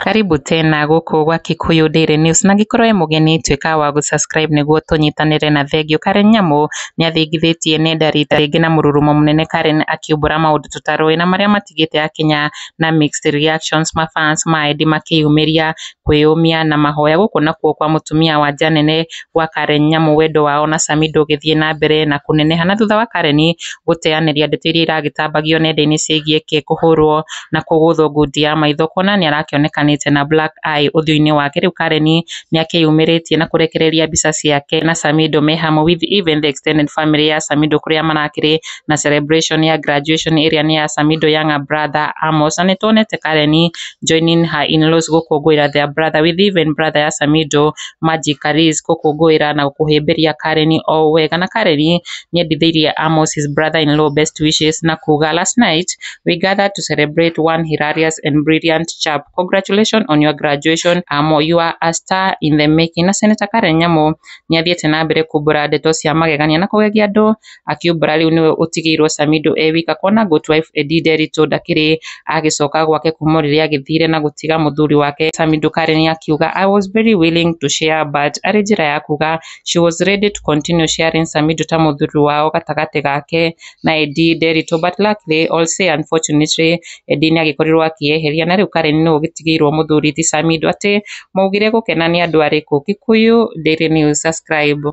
Karibu tena gũkũ gwa Kikuyu Daily News na angĩkorwo wĩ mũgeni tuĩka wa gũ subscribe nĩguo tũnyitanĩre na thengiũ. Karen Nyamu nĩathingithĩtie nenda rita rĩngĩ na mũrurumo mũnene Karen akiumbũra maũndũ tũtarũĩ na marĩa matigĩte akinya na mixed reactions ma fans ma Eddie makĩyumĩria kwĩyũmia na mahoya. Gũkũ nakuo kwa mũtumia wa nja nene gwa Karen Nyamu wendo wao na Sami ndũgĩthiĩ na mbere na kũneneha. Na thutha wa Karen gũteyanĩria ndeto iria iragĩtambagio nenda-inĩ ciĩgiĩ Kay kũhũrwo na kũgũthwo ngundi ya maitho kuona nĩ arakĩonekanĩte na black eye ũthiũ-inĩ wake, rĩu Karen nĩ akĩyumĩrĩtie na kũrekereria mbica ciake na Samido me hamwe with even the extended family ya Samido kũrĩa marakĩrĩ na celebration ya graduation ĩrĩa nĩ ya Samido younger brother Amos. Na nĩ tuonete Karen joining her in-laws gũkũngũĩra their brother with even brother ya Samido magic Karis gũkũngũĩra na kũhĩmbĩria Karen o wega na Karen nĩendithĩirie Amos his brother in law best wishes na kuga last night we gathered to celebrate one hilarious and brilliant chap congratulations on your graduation Amo you are a star in the making na Senator Karen Nyamu nĩathiĩte na mbere kumbũra ndeto cia magegania na kũgegia andũ akiumbũra rĩu nĩwe ũtigĩirwo Samido e wika kuona Goat Wife Edie Nderitu ndakĩrĩ agĩcoka gwake kuma rĩrĩa agĩthire na gũtiga mũthuri wake Samido Karen akiuga I was very willing to share but arĩ njĩra ya kuga she was ready to continue sharing Samido ta mũthuri wao gatagatĩ gake na Edie Nderitu but luckily all say unfortunately Edie nĩ agĩkorirwo akĩyeheria na rĩu Karen nĩwe ũgĩtigĩirwo mũthuri ti Samido atĩ maugire gũkena nĩ andũ arĩkũ Kikuyu Daily News subscribe